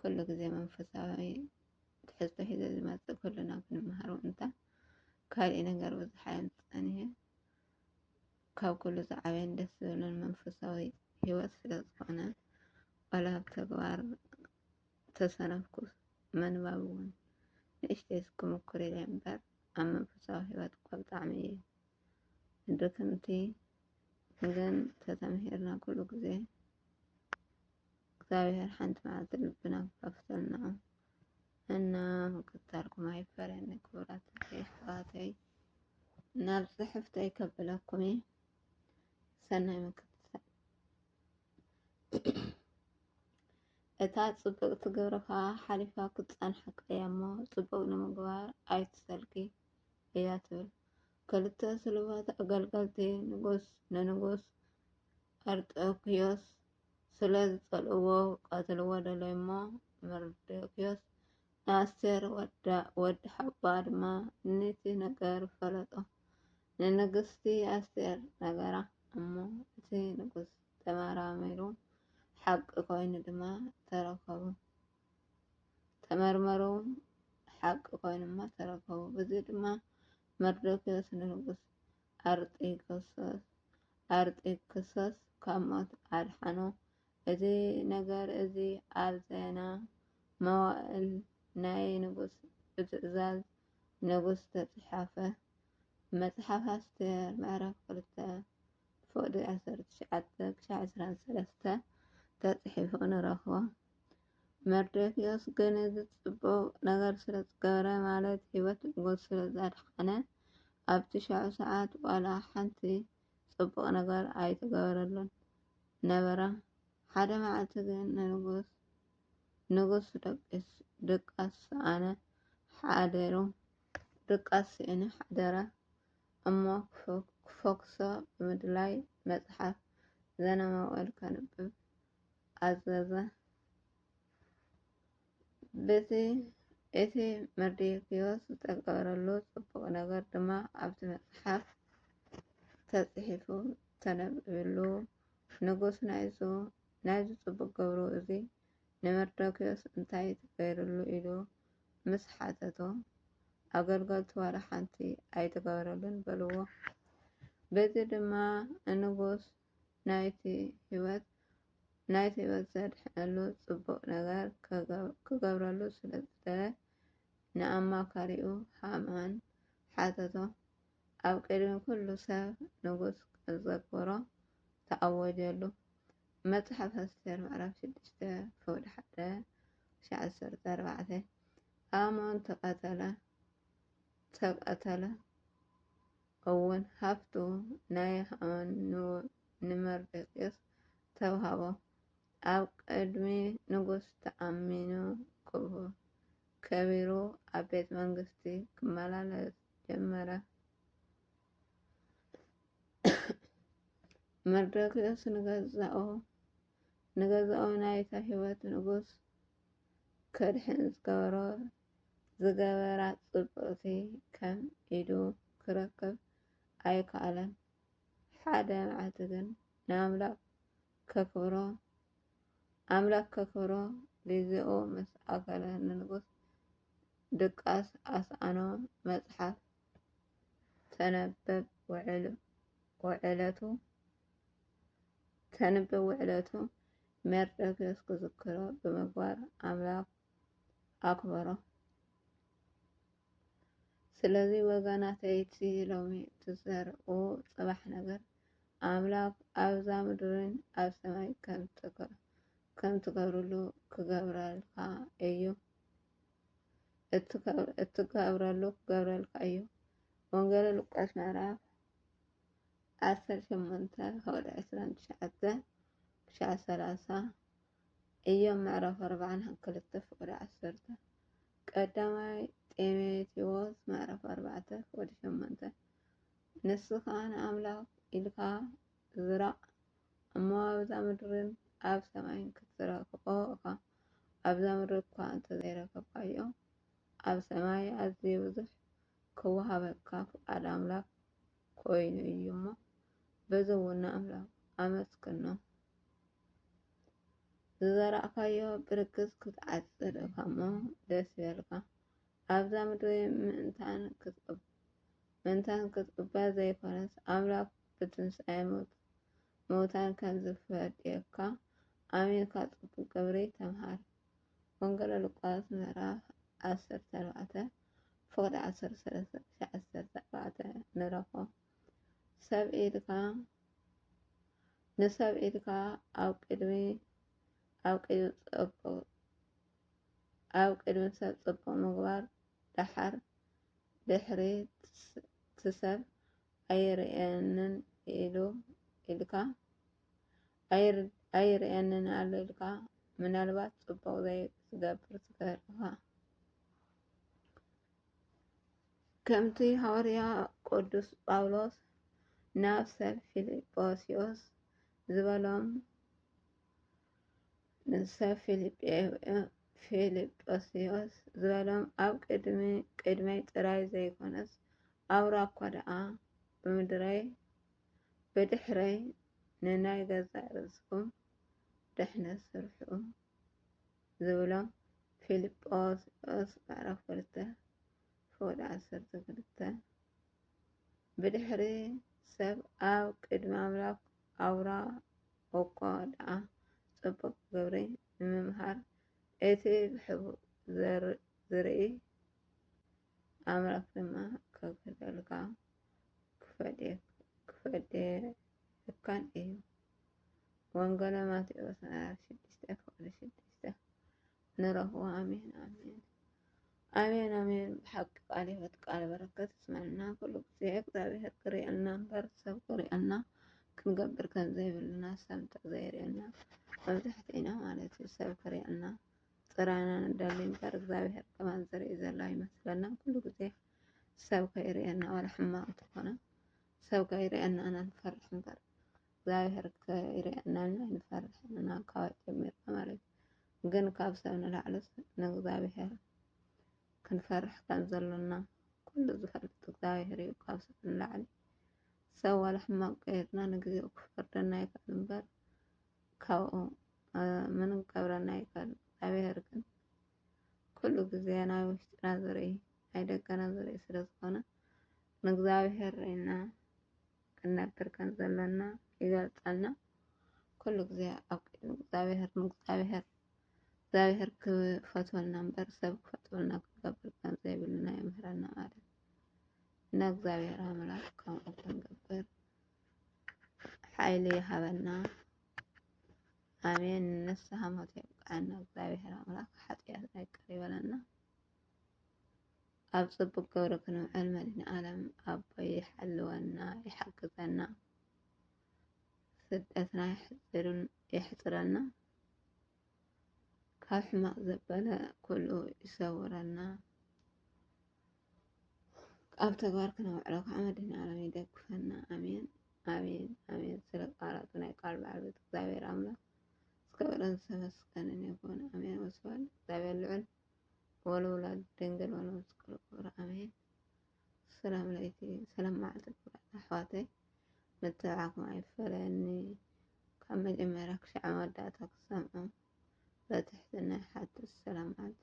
ኩሉ ግዜ መንፈሳዊ ትሕዝቶ ሒዘ ዝመጽእ ኩልና ክንመሃሮ እንታ ካልእ ነገር ብዙሕ ኣየም ጸኒሔ ካብ ኩሉ ዝዓበየን ደስ ዝብልን መንፈሳዊ ህይወት ስለ ዝኾነ ዋላ ኣብ ተግባር ተሰነፍኩ መንባብ እውን ንእሽተይ ክምኩር ኢለ እምበር ኣብ መንፈሳዊ ህይወት እኳ ብጣዕሚ እዩ ድክምቲ ግን ተተምሂርና ኩሉ ግዜ እግዚኣብሔር ሓንቲ መዓልቲ ልብና ክኸፍተልና እና ምቅታልኩም ኣይፈረኒ ክብራት ይሕዋተይ ናብ ፅሕፍተይ ከብለኩም እየ ሰናይ ምክትታል እታ ፅብቅቲ ግብርካ ሓሊፋ ክትፀንሓካ እያ እሞ ፅቡቅ ንምግባር ኣይትሰልኪ እያ ትብል ክልተ ስልባት ኣገልገልቲ ንጉስ ንንጉስ ኣርጠክዮስ ስለ ዝጸልእዎ ክቐትልዎ ደለዩ እሞ፣ መርዶክዮስ ንኣስቴር ወዳ ወዲ ሓባ ድማ ኑቲ ነገር ፈለጦ። ንንግስቲ ኣስቴር ነገራ እሞ እቲ ንጉስ ተመራሚሩ ሓቂ ኮይኑ ድማ ተረከቡ። ተመርመሩ ሓቂ ኮይኑማ ተረከቡ። ብዚ ድማ መርዶክዮስ ንንጉስ ኣርጤክስስ ካብ ሞት ኣድሓኖ። እዚ ነገር እዚ ኣብ ዜና መዋእል ናይ ንጉስ ብትእዛዝ ንጉስ ዝተጽሓፈ መጽሓፍ ኣስቴር ምዕራፍ ክልተ ፍቕዲ ዓሰርተ ትሽዓተ ክሳዕ ዕስራን ሰለስተ ተጽሒፉ ንረኽቦ። መርዶክዮስ ግን እዚ ጽቡቕ ነገር ስለ ዝገበረ ማለት ህይወት ንጉስ ስለ ዘድሓነ ኣብ ትሽዑ ሰዓት ዋላ ሓንቲ ጽቡቕ ነገር ኣይተገበረሉን ነበረ። ሓደ መዓልቲ ግን ንንጉስ ንጉስ ድቃስ ሰኣነ ሓደሩ ድቃስ ስእኒ ሓደረ እሞ ክፎክሶ ብምድላይ መጽሓፍ ዘነማወል ከንብብ ኣዘዘ። በቲ እቲ መርዶክዮስ ዝተገበረሉ ጽቡቕ ነገር ድማ ኣብቲ መጽሓፍ ተጽሒፉ ተነቢብሉ። ንጉስ ናይዙ ናይዚ ጽቡቕ ገብሩ እዚ ንመርዶክዮስ እንታይ ተገይሩሉ ኢሉ ምስ ሓተቶ፣ ኣገልገልቱ ዋላ ሓንቲ ኣይተገበረሉን በልዎ። በዚ ድማ ንጉስ ናይቲ ህይወት ናይቲ ህይወት ዘድሕነሉ ጽቡቕ ነገር ክገብረሉ ስለ ዝደለ ንኣማካሪኡ ሃማን ሓተቶ። ኣብ ቅድሚ ኩሉ ሰብ ንጉስ ዘክብሮ ተኣወጀሉ። መጽሓፍ ኣስቴር ምዕራፍ ሽዱሽተ ፍቕዲ ሓደ ክሻዕ ዓሰርተ ኣርባዕተ ኣሞን ተቐተለ ተቐተለ እውን ሃብቱ ናይ ሃማን ንመርዶክዮስ ተውሃቦ። ኣብ ቅድሚ ንጉስ ተኣሚኑ ከቢሩ ኣብ ቤት መንግስቲ ክመላለስ ጀመረ። መርዶክዮስ ንገዛኡ ናይታ ህይወት ንጉስ ከድሕን ዝገበሮ ዝገበራ ጽብቕቲ ከም ኢዱ ክረክብ ኣይከኣለን። ሓደ መዓልቲ ግን ንኣምላኽ ከክብሮ ኣምላኽ ከክብሮ ግዜኡ ምስ ኣከለ ንንጉስ ድቃስ ኣስኣኖ መጽሓፍ ተነበብ ውዕለቱ ተንብብ ውዕለቱ ሜርዶክዮስ ክዝክሮ ብምግባር ኣምላኽ ኣክብሮ ስለዚ ወገናተይ እቲ ሎሚ ትዘርኡ ጽባሕ ነገር ኣምላክ ኣብዛ ምድርን ኣብ ሰማይ ከም ትገብርሉ ክገብረልካ እዩ እትገብረሉ ክገብረልካ እዩ ወንጌል ሉቃስ ምዕራፍ ዓሰርተ ሸሞንተ ካብ ዕስራን ትሽዓተ ክሻዕ ሰላሳ እዮም ምዕራፍ ኣርባዓን ክልተ ፍቅዲ ዓሰርተ ቀዳማይ ጤሜቴዎስ ምዕራፍ ኣርባዕተ ፍቅዲ ሸሞንተ ንስኻ ንኣምላኽ ኢልካ ዝራእ እሞ ኣብዛ ምድርን ኣብ ሰማይን ክትረክቦ እኻ ኣብዛ ምድሪ እኳ እንተዘይረከብካዮ ኣብ ሰማይ ኣዝዩ ብዙሕ ክወሃበካ ፍቃድ ኣምላክ ኮይኑ እዩ እሞ በዚ እውን ንኣምላኽ ኣመስግኖ። ዝዘራእካዮ ብርግጽ ክትዓጽድ እካ እሞ ደስ ይበልካ። ኣብዛ ምድሪ ምእንታን ክትቅብ ምእንታን ክትቅበር ዘይኮነስ ኣምላኽ ብትንሳኤ ሞት ምውታን ከም ዝፈድየካ ኣሚንካ ጽቡቅ ግብሪ ተምሃር። ወንጌለ ሉቃስ ምዕራፍ ዓሰርተ ኣርባዕተ ፍቕዲ ዓሰርተ ሰለስተ ክሳዕ ዓሰርተ ኣርባዕተ ንረኾ ሰብ ኢድካ ንሰብ ኢድካ ኣብ ቅድሚ ኣብ ቅድሚ ጽቡቕ ኣብ ቅድሚ ሰብ ጽቡቕ ምግባር ደሓር ድሕሪ ትሰብ ኣይርእየንን ኢሉ ኢልካ ኣይርእየንን ኣሎ ኢልካ ምናልባት ጽቡቕ ዘይትገብር ትገርኻ ከምቲ ሃዋርያ ቅዱስ ጳውሎስ ናብ ሰብ ፊልጶስዮስ ዝበሎም ንሰብ ፊልጶስዮስ ዝበሎም ኣብ ቅድመይ ጥራይ ዘይኮነስ ኣብራ እኳ ደኣ ብምድረይ ብድሕረይ ንናይ ገዛእ ርእስኹም ድሕነት ስርሑ ዝብሎም ፊልጶስዩስ ምዕራፍ ክልተ ፍቕዲ ዓሰርተ ክልተ ብድሕሪ ሰብ ኣብ ቅድሚ ኣምላኽ ኣውራ እኳ ደኣ ጽቡቕ ግብሪ ንምምሃር እቲ ብሕቡእ ዝርኢ ኣምላኽ ድማ ከግህደልካ ክፈዴልካን እዩ። ወንገለ ማቴዎስ ምዕራፍ ሽዱሽተ ክፍሊ ሽዱሽተ ንረኽቦ። ኣሜን ኣሜን ኣሜን ኣሜን። ብሓቂ ቃል ህይወት ቃል በረከት ስመና ኩሉ ግዜ እግዚኣብሔር ክርእየልና እምበር ሰብ ክርእየልና ክንገብር ከም ዘይብልና ሰምተ ዘይርእየና መብዛሕትኢና ማለት እዩ ሰብ ክርእየልና ጥራይና ንደሊ እምበር እግዚኣብሔር ከማን ዝርኢ ዘሎ ኣይመስለናን። ኩሉ ግዜ ሰብ ከይርእየና ዋላ ሕማቅ እንተኾነ ሰብ ከይርእየና ኢና ንፈርሕ እምበር እግዚኣብሔር ከይርእየና ኢና ንፈርሕ ኢና ካብ ጀሚርና ማለት እዩ። ግን ካብ ሰብ ንላዕሊ ንእግዚኣብሔር ክንፈርሕ ከም ዘሎና ኩሉ ዝፈልጥ እግዚኣብሔር እዩ። ካብ ሰብ ንላዕሊ ሰብ ዋላ ሕማቅ ከይርና ንግዜኡ ክፈርደና ይኽእል እምበር ካብኡ ምንም ክገብረና ኣይክእልን እግዚኣብሔር ግን ኩሉ ግዜ ናይ ውሽጥና ዝርኢ ናይ ደገና ዝርኢ ስለ ዝኾነ ንእግዚኣብሔር ርኢና ክንነብር ከም ዘለና ይገልጸልና። ኩሉ ግዜ ኣብ ቅድሚ እግዚኣብሔር ንእግዚኣብሔር እግዚኣብሔር ክፈትወልና እምበር ሰብ ክፈትወልና ክንገብር ከም ዘይብልና የምህረና ማለት እና። እግዚኣብሔር ኣምላክ ከምኡ ክንገብር ሓይሊ ይሃበና ኣሜን። ንስሓ ሞት የብቅዓና እግዚኣብሔር ኣምላክ ሓጥያትና ይቅር ይበለና። ኣብ ጽቡቅ ገብሪ ክንውዕል መድኒ ዓለም ኣቦይ ይሓልወና ይሓግዘና። ስደትና ይሕጽርን የሕጽረና። ካብ ሕማቅ ዘበለ ኩሉ ይሰውረና። ኣብ ተግባር ክነውዕሎ ከዓ መድህናለም ይደግፈና ኣሜን ኣሜን ኣሜን ስለ ቃላቱ ናይ ቃል ባለቤት እግዚኣብሔር ኣምላክ ዝከበረን ዝተመስገንን ይኹን ኣሜን ወስብሐት እግዚኣብሔር ልዑል ወለወላድ ድንግል ወለመስቀሉ ክብር ኣሜን ሰላም ለይቲ ሰላም መዓልቲ ክብራት ኣሕዋተይ መተባዕኩም ኣይፈለኒ ካብ መጀመርያ ክሻዕ መወዳእታ ክሰምዑ በትሕትና ሓትት ሰላም መዓልቲ